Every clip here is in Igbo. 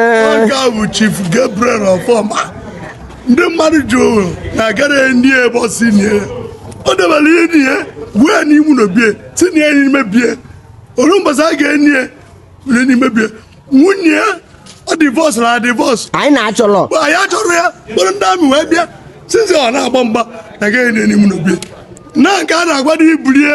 oge a bụ Chief Gabriel Ọfọma ndị mmadụ jụrụ na agara eni ya ebe ọ sị nie o debere ini ya gwuo ya n'ime ụnọ be ya sị nie ya n'ime be ya o ruo mbọsị a ga-eni ya were n'ime be ya nwunye ya ọ divorce na divorce anyị na-achọrọ mgbe anyị achọrọ ya kpọrọ ndị army wee bịa sizi ọ na-agba mgba na agaghị eni ya n'ime ụnọ be ya na nke a na-agwa na ibulie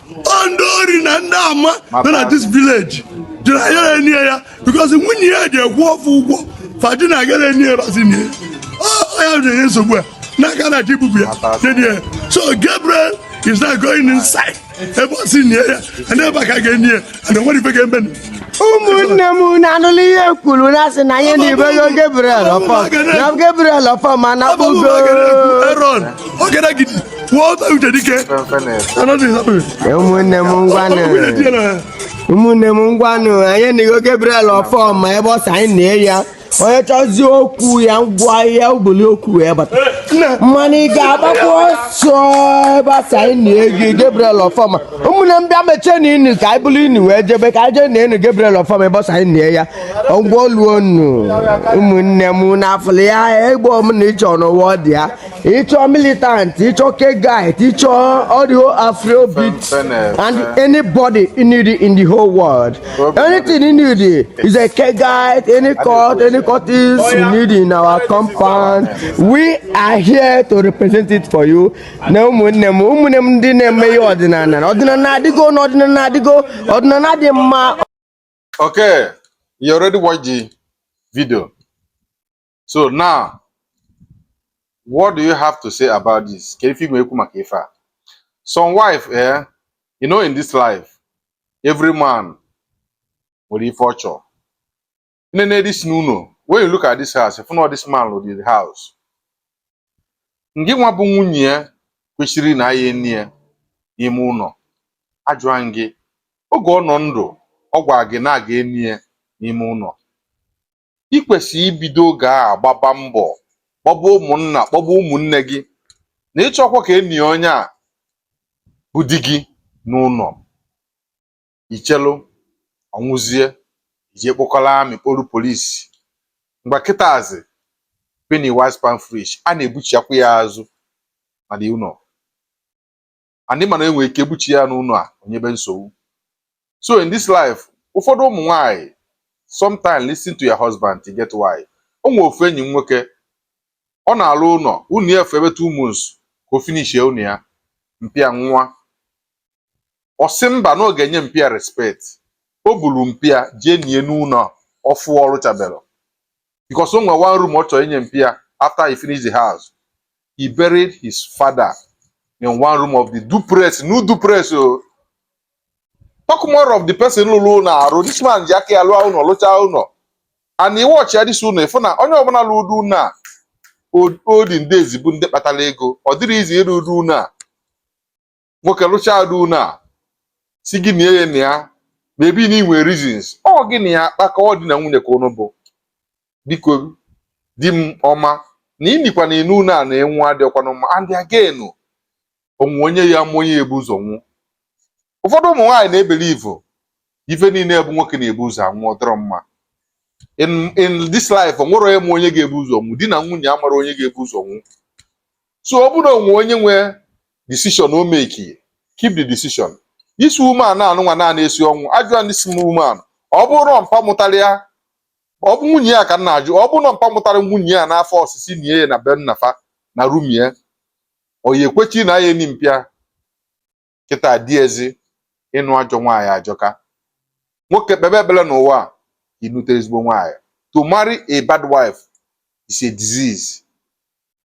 ndị ori na ndị ama nọ na this village jụrụ na a ya-eni ya because nwunye ya jee kwụọ fa ụgwọ fa jụ na agara eni ya ebe a sị nie ya ya enye nsogbu a n'aka na ji bubu ya nie ya so Gabriel is now going inside ebe ọ sị nie ya and ebe a ka a ga-eni ya na nwere ife ga-eme ụmụnne m na anụla ihe kwuru na asị na anyị enibego Gabriel ọfọ na Gabriel Ọfọma na kpugo ụmụnne m ngwanụ ụmụnne m ngwanụ anyị enigo Gabriel Ọfọma ebe ọ sị anyị nie ya onye chọzie okwu ya ngwa ya bulu okwu wee bata mana ị ga-agbakwa ọsọ ebe asị anyị enigo Gabriel Ofoma ụmụnne m bịa mechie nụ ini ka anyị buru ini wee jebe ka anyị jee na ini Gabriel Ofoma ebe ọ sị anyị nie ya ngwa oluo nnu ụmụnne m na afụlụ ya ihe ọbụna ịchọ n'ụwa ọ dị ya ịchọ militant ịchọ Kegite ịchọ audio afrobeat and anybody you need in the whole world anything you need is a Kegite any cult any cultist oh, you need in our compound we are here to represent it for you na ụmụnne m ụmụnne m ndị na-eme ihe ọdịnana ọdịnana adịgo na ọdịnana adịgo ọdịnana dị mma okay you already watch the video so now what do you have to say about this ka ife i nwe ekwu maka ife a some wife eh you know in this life every man nwere ife ọ chọrọ nene this n'ụlọ when you look at this house ị fụ na this man lụrụ the house ngị nwa bụ nwunye ya kwesịrị na a ya-eni ya n'ime ụlọ ajụa m gị oge ọ nọ ndụ ọ gwara gị na a ga-eni ya n'ime ụlọ i kwesịrị ibido oge a gbaba mbọ kpọba ụmụnna kpọba ụmụnne gị na ịchọkwa ka e nie onye a bụ di gị n'ụlọ i chelu ọnwụzie i je kpọkọrọ army kpọrọ police mgbe kịtazi penny wise pound foolish a na-ebuchiakwa ya azụ na the ụlọ and ị ma na enwere ike ebuchi ya n'ụlọ a o nyebe nsogbu so in this life ụfọdụ ụmụ nwanyị sometimes listen to your husband e get why o nwe ofu enyi m nwoke ọ na-alụ ụlọ ụnọ ya afọ ebe two months ka o finishie ụnọ ya mpa ya nwụa ọ sị mba na ọ ga-enye mpa ya respect o buru mpa ya jee nie n'ụlọ ọfụ ọ rụchaberọ because o nwe one room ọ chọrọ inye mpa ya after he finished the house he buried his father in one room of the duplex new duplex o talk more of the person lụrụ ụlọ arụ this man ji aka ya lụa ụnọ lụchaa ụnọ and ị watchie this ụnọ ị fụ na onye ọbụla lụrụ ụdị ụlọ a olden days bụ ndị kpatara ego ọ dịrọ easy ịrụ ụdị ụlọ a nwoke lụchaa ụdị ụlọ a sị gị nie ya na ya maybe na i nwe reasons ọ gị na ya akpa ka ọ di na nwunye ka unu bụ biko di m ọma na inikwa n'enu ụnọ a na ị nwụ adịrọkwanụ mma and again o nwe onye ya-ama onye ya-ebu ụzọ nwụ ụfọdụ ụmụ nwaanyị na-ebelieve ife niile bụ nwoke na-ebu ụzọ anwụ ọ dịrọ mma in in this life o nwerọ onye ma onye ga-ebu ụzọ nwụ di na nwunye amarọ onye ga-ebu ụzọ nwụ so ọ bụrụ na o nwe onye nwe decision o make keep the decision this woman anụnwa na-esi ọnwụ ajụa this woman ọ bụrụ na mpa mụtara ya ọ bụ nwunye ya ka m na-ajụ ọ bụrụ na mpa mụtara nwunye ya n'afọ ọ sị sị nie ya na be nnafa na room ya ọ ya-ekwechi na ya eni mpa ya kịta dị easy ịnụ ajọ nwaanyị ajọka nwoke kpebe ekpere n'ụwa a ịnụte ezigbo nwaanyị to marry a bad wife is a disease